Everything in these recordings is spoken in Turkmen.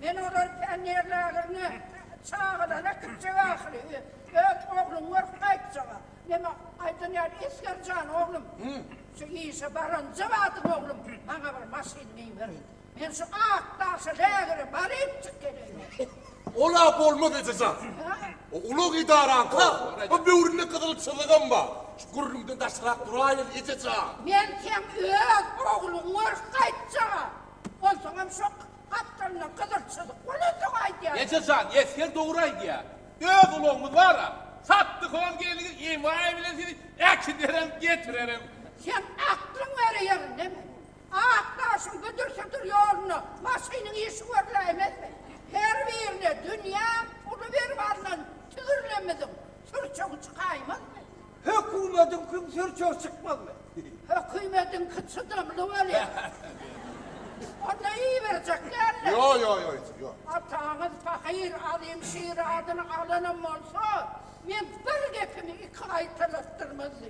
Men olar pionerlageriňe çagalary äkitjek ahyry. Öz ogluňy görüp gaýtjaga. Meme aýdan ýaly Esger jan oglum, şu işe baranja badyň oglum, maňa bir maşyn geýiber. Men şu ak daşa lägere barypjyk geleýin. Ol-a bolmaz eje jan. O ulag edaraňka, o böwründe gyzyl çyzygam bar. Şu gürrüňden daşrak duraýyň eje jan. Men seň öz ogluňy görüp gaýtjaga. Onsoňam şo Gapdalynda gyzyl çyzyk bolandygy aýdýarlar. Eje jan, esger dogry aýdýar. Öz ulagymyz bar-a. Satdyk ol gelni emaý bilen sizi äkiderem, getirerim. Sen aklyň ýere ýeren deme. Ak daşyň güdür-südür ýolunda maşynyň işi görläýmezmi? Her birine dünýä puly berip alnan tüwirlemizin sürçegi çykaýmazmy? Hökümediňkiň sürçegi çykmazmy? Hökümediňki çydamly bolýar. Onda iýiberjek däldir? Ýo, ýo, ýo, eje, ýo. Ataňyz pahyr Alym Şir adyny alanam bolsa, men bir gepimi iki gaýtalatdyrmazdy.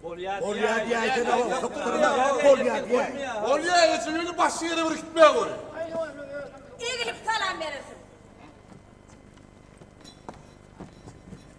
Bolýar diýäýse-de ol sypdyrmaz, bolýar diýäýse. Bolýar eje, ýöne başga ýere bir gitmä gör. Haý, ony özüm. Egrip salam berersiň.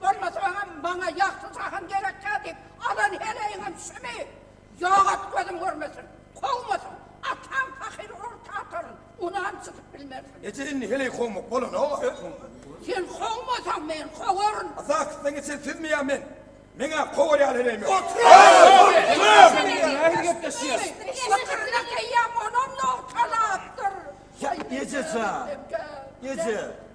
Bolmasa oňam maňa ýagty jahan gerekkä diýip alan heleýiňem şumy? Ýok et gözüm görmesin. Kowmasyn. Ataň pahyr orta ataryn. Unam çytyp bilmersiň. Eje indi heleý kowmak bolanok-a söz soňunda. Sen kowmasaň men kowaryn. A zakysdan geçen sizmi ýa men? Meň-ä kowar ýaly heleýim ýok. Sykyryna geýýäň onam nogtalapdyr. Ýa eje jan. Eje.